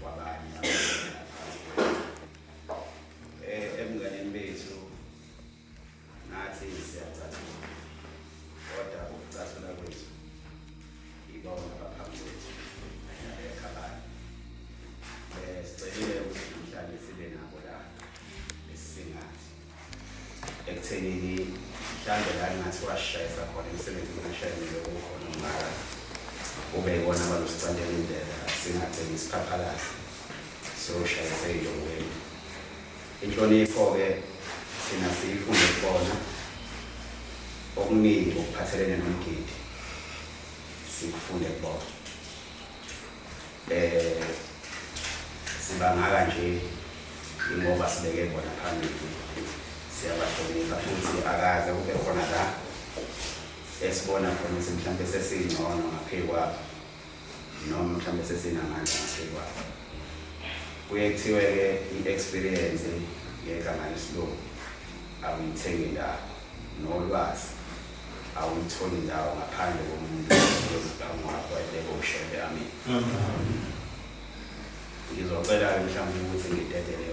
kwabanye eh, ebunganeni bethu nathi siyacathula kodwa ukucathula kwethu ibona abaphambi kwethu ekhabani um eh, sicelile ukuthi namhlanje sibe nabo la esisingathi ekuthenini mhlawumbe la ngathi washayisa khona imisebenzi ngashayelele kukhona umngaka ube yibona abalusicandela indlela singagcini isiphaphalazi soshayise ey'longweni inhlonipho-ke thina siyifunde kubona okuningi okuphathelene nomgidi sikufunde kubona Eh sibangaka nje ingoba sibeke bona phambili siyabahlonipha futhi akaze kube khona la esibona khona ukuthi mhlawumbe sesingcono ngaphezu kwabo noma mhlawumbe sesinamandla ngaphezu kwabo kuye kuthiwe-ke i-experience ngegama lesilungu awuyithengi ndawo nolwazi awuyitholi ndawo ngaphandle komuntu ozibanga wakho ayibeke ushende amini ngizocela-ke mhlawumbe ukuthi ngidedele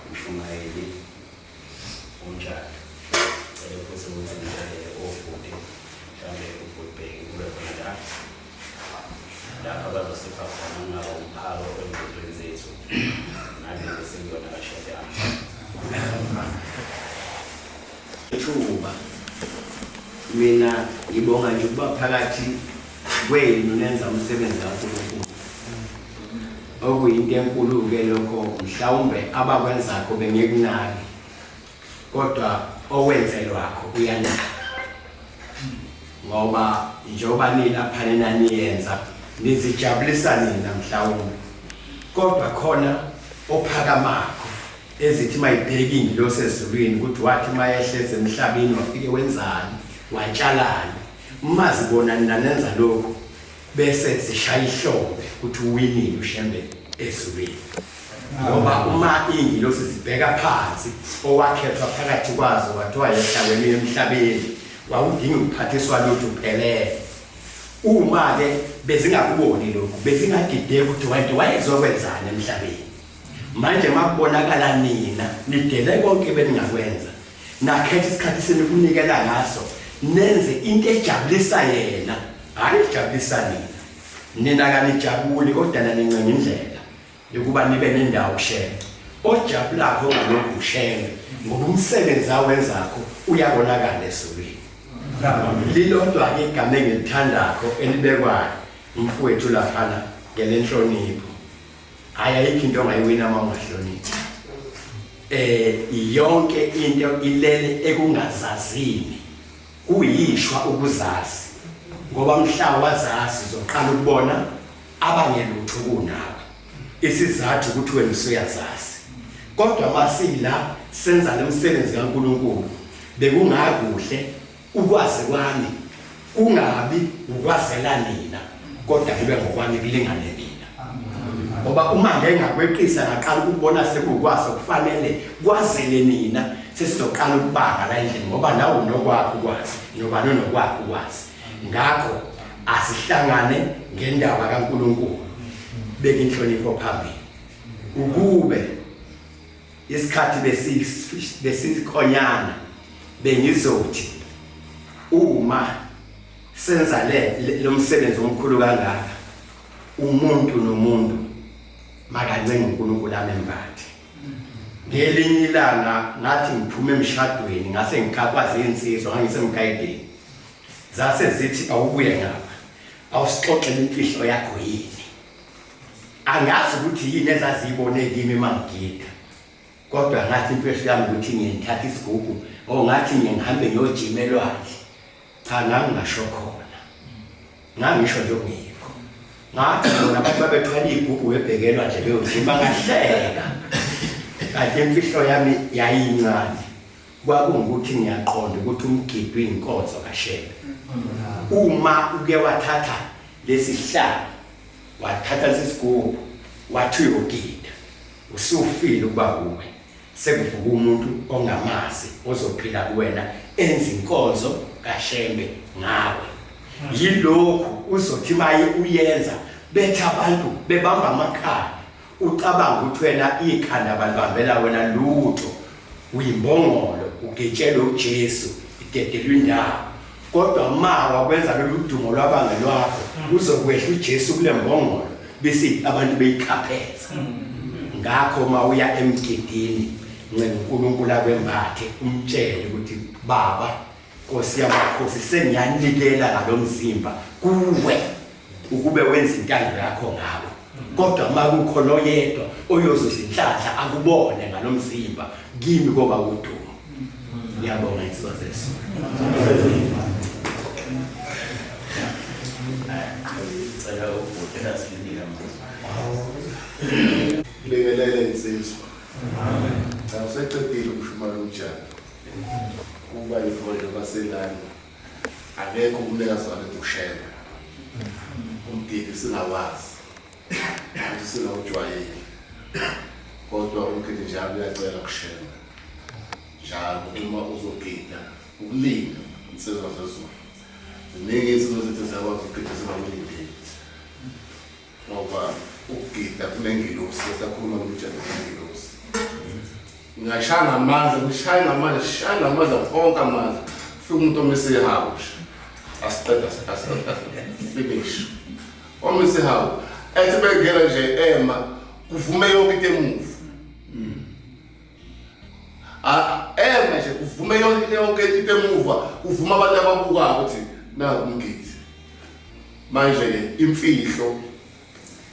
umshumayeli unjalo cele futhi ukuthi ngidedele obhuti mhlawumbe ubhutibheki kube khona la lapha bazosipha khona ngingaba umphako engqodweni zethu nalezi sengiyona kashede ami Thuba. Mina ngibonga nje ukuba phakathi kwenu nenza umsebenzi kaNkulunkulu. Okuyinto enkulu-ke lokho mhlawumbe abakwenzakho bengekunaki kodwa owenzelwakho uyanaka ngoba njengoba nilapha nina niyenza nizijabulisa nina mhlawumbe kodwa khona ophakamakho ezithi mayibheki ingilosi ezulwini ukuthi wathi mayehleze emhlabeni wafike wenzani watshalani mazi bona nanenza lokho bese zishaya ihlombe ukuthi uwinile ushembe ezulwini ngoba uma ingilosi zibheka phansi owakhethwa phakathi kwazo wathiwa yehlaweni emhlabeni wawudinga ukuphathiswa lutho uphelele uma-ke bezingakuboni lokhu bezingadideki ukuthi wayezokwenzaani emhlabeni Manje makubonakala nina nidele konke beningakwenza nakhetha isikhathi senu kunikela ngaso nenze into ejabulisa yena hayi ijabulisa nina nina kanijabuli kodwa nanincenga indlela yokuba nibe nendawo shenge ojabulakho ngalokhu shenge ngoba umsebenzi awenzakho uyabonakala esukwini lilodwa-ke igama engilithandakho elibekwayo umfowethu laphana ngelenhlonipho hayi ayikho into ongayiwina uma ungahloniphi eh yonke into ilele ekungazazini kuyishwa ukuzazi ngoba mhla wazazi zoqala ukubona abanye lutho kunawe isizathu ukuthi wena usuyazazi kodwa masila senza lomsebenzi kaNkuluNkulu bekungakuhle Ukwazi kwami kungabi ukwazela nina kodwa kube ngokwami kulingane nina. Ngoba uma ngeke ngakweqisa ngaqala ukubona sekukwazi okufanele kwazele nina sesizoqala ukubanga la endlini ngoba nawe unokwakho ukwazi nobani unokwakho ukwazi. Ngakho asihlangane ngendaba kaNkulunkulu beka inhlonipho phambili ukube isikhathi besikhonyana bengizothi uma senza le lo msebenzi omkhulu kangaka umuntu nomuntu makancenga uNkulunkulu amembathe ngelinye ilanga ngathi ngiphume emshadweni ngase ngikakwazi insizwa ngangisemgayideni zase zithi awubuye ngapha awusixoxele imfihlo yakho yini angazi ukuthi yini ezaziyibone kimi mangigida kodwa ngathi imfihlo yami ukuthi ngiyithatha isigugu or ngathi ngihambe ngiyojima elwandle cha ngangingasho khona ngangisho nje ngikho ngathi bona abantu babethwala iy'gugu bebheke elwandle beyojima ngahleka kanti imfihlo yami yayincane Kwakungukuthi ngiyaqonda ukuthi umgidi uyinkonzo kaShembe. Uma uke wathatha lesi sihlalo, wathatha lesi sigubhu, wathi uyogida, usufile ukuba wuwe. Sekuvuka umuntu ongamazi ozophila kuwena enza inkonzo kaShembe ngawe. Yilokhu uzothi maye uyenza bethi abantu bebamba amakhaya Ucabanga ukuthi wena ikhanda balibambela wena lutho. Uyimbongolo, ugetshelwe uJesu, idedelwe indawo. Kodwa ma wakwenza lolu dumo lwabanga lwakho, mm. uzokwehla uJesu kule mbongolo bese abantu beyikhapheza. Mm. Ngakho ma uya emgidini, ncenga uNkulunkulu akwembathe, umtshele ukuthi baba Nkosi yamakhosi sengiyanikela ngalomzimba kuwe ukube wenza intando yakho ngawo kodwa uma kukhona oyedwa oyozuza inhlanhla akubone ngalomzimba kimi koba udumo ngiyabonga insizwa zesu cela ubhuti asinika manje lekelele insizwa amen cha useqedile umshumalo umjana kuba izibonelo basengane akekho umnikazi wale dushela umdiki singawazi futhi singawujwayeli kodwa umgidi njalo uyacela kushela njalo uma uzogida ukulinde insizwa zezulu ziningi izinto zethu zakwazi ukugida singakulindeli ngoba ukugida kunengilosi esakhuluma ngokujana kunengilosi ngashaya ngamanzi ngishaye ngamanzi shaye ngamanzi onke amanzi fika umuntu omesehawu nje asiqeda finish omesehawu ethi bengena nje ema kuvume yonke into emuva Ah, eme nje kuvume yonke into yonke into emuva, kuvuma abantu ababukayo ukuthi naku umngithi. Manje ke imfihlo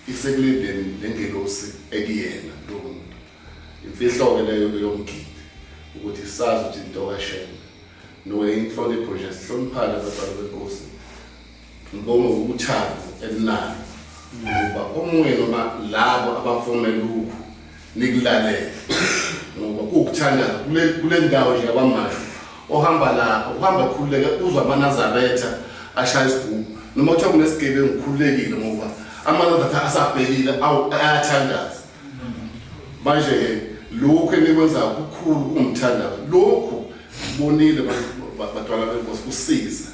isekulindeni nengelosi ekuyena lo muntu. Imfihlo ke leyo yomgidi ukuthi sazi ukuthi into kaShembe. No inhlonipho nje sihloniphane abantwana benkosi. Ngibonga ukuthanda elinani. Ngoba omunye noma labo abafome lokhu nikulalele. Ngoba ukuthanda kule kule ndawo nje kwamasho ohamba lapho uhamba khululeke uzwa amanazaretha ashaya isigubu noma kuthiwa kunesigebengu khululekile ngoba amanazaretha asabhekile awu ayathandaza manje-ke lokhu enikwenzayo kukhulu kungithandaza lokhu bonile badwala benkosi kusiza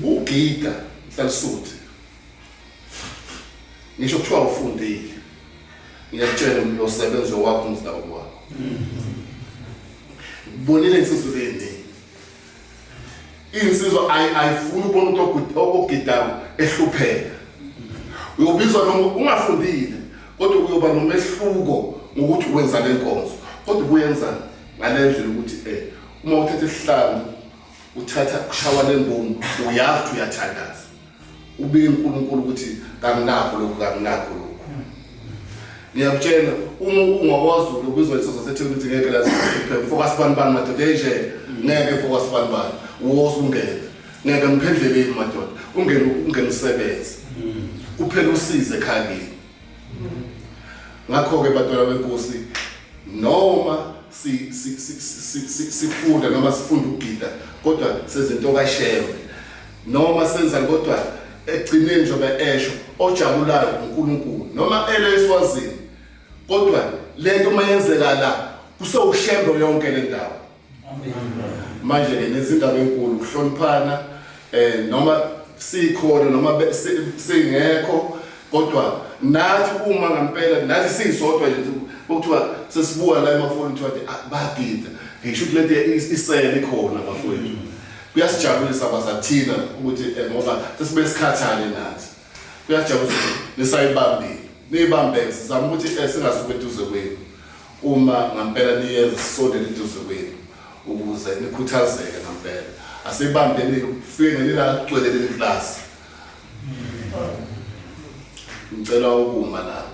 kugida mhlalisuthi ngisho kuthiwa ufundile ngiyakutshela umuntu osebenze wakho umzila wakho bonile insizulu eningi insizwa ayifuni ubona umuntu ogidayo ehlupheka uyobizwa noma ungafundile kodwa uyoba nomehluko ngokuthi wenza le nkonzo kodwa kuyenza ngale ndlela ukuthi um uma uthatha isihlanu uthatha kushawa le mbomu uyazi ukuthi uyathandaza Ubike uNkulunkulu ukuthi kanginakho lokhu kanginakho lokhu. Ngiyakutshela uma ungowazulu ubizwa isizwe sethini ukuthi ngeke lazi phela focus bani bani madoda enje ngeke focus bani bani woza ungeke ngeke ngiphendleleni madoda ungene ungene usebenze kuphela usize ekhayeni ngakho ke bantwana benkosi noma si sifunda noma sifunda ukugida kodwa sezinto kashewe noma senza kodwa ekugcineni njengoba esho ojabulayo uNkulunkulu noma ele eswazini kodwa lento uma yenzeka la kusewushembo yonke le ndawo manje ke nezindaba enkulu ukuhloniphana eh noma sikhona noma singekho kodwa nathi uma ngempela nathi sisodwa nje kuthiwa sesibuka la emafoni kuthiwa ah, bagida ngisho ukuthi lento isele khona bafowethu Kuyasijabulisa basathina ukuthi eh, ngoba sesibe sikhathane nathi. Kuyasijabulisa ukuthi nisayibambile. Niyibambeke sizama ukuthi eh, singasuki eduze kwenu. Uma ngampela niyenza sisondele eduze kwenu ukuze nikhuthazeke ngampela. Asibambeni fike ngelila gcwele leli class. Ngicela ukuma lapho.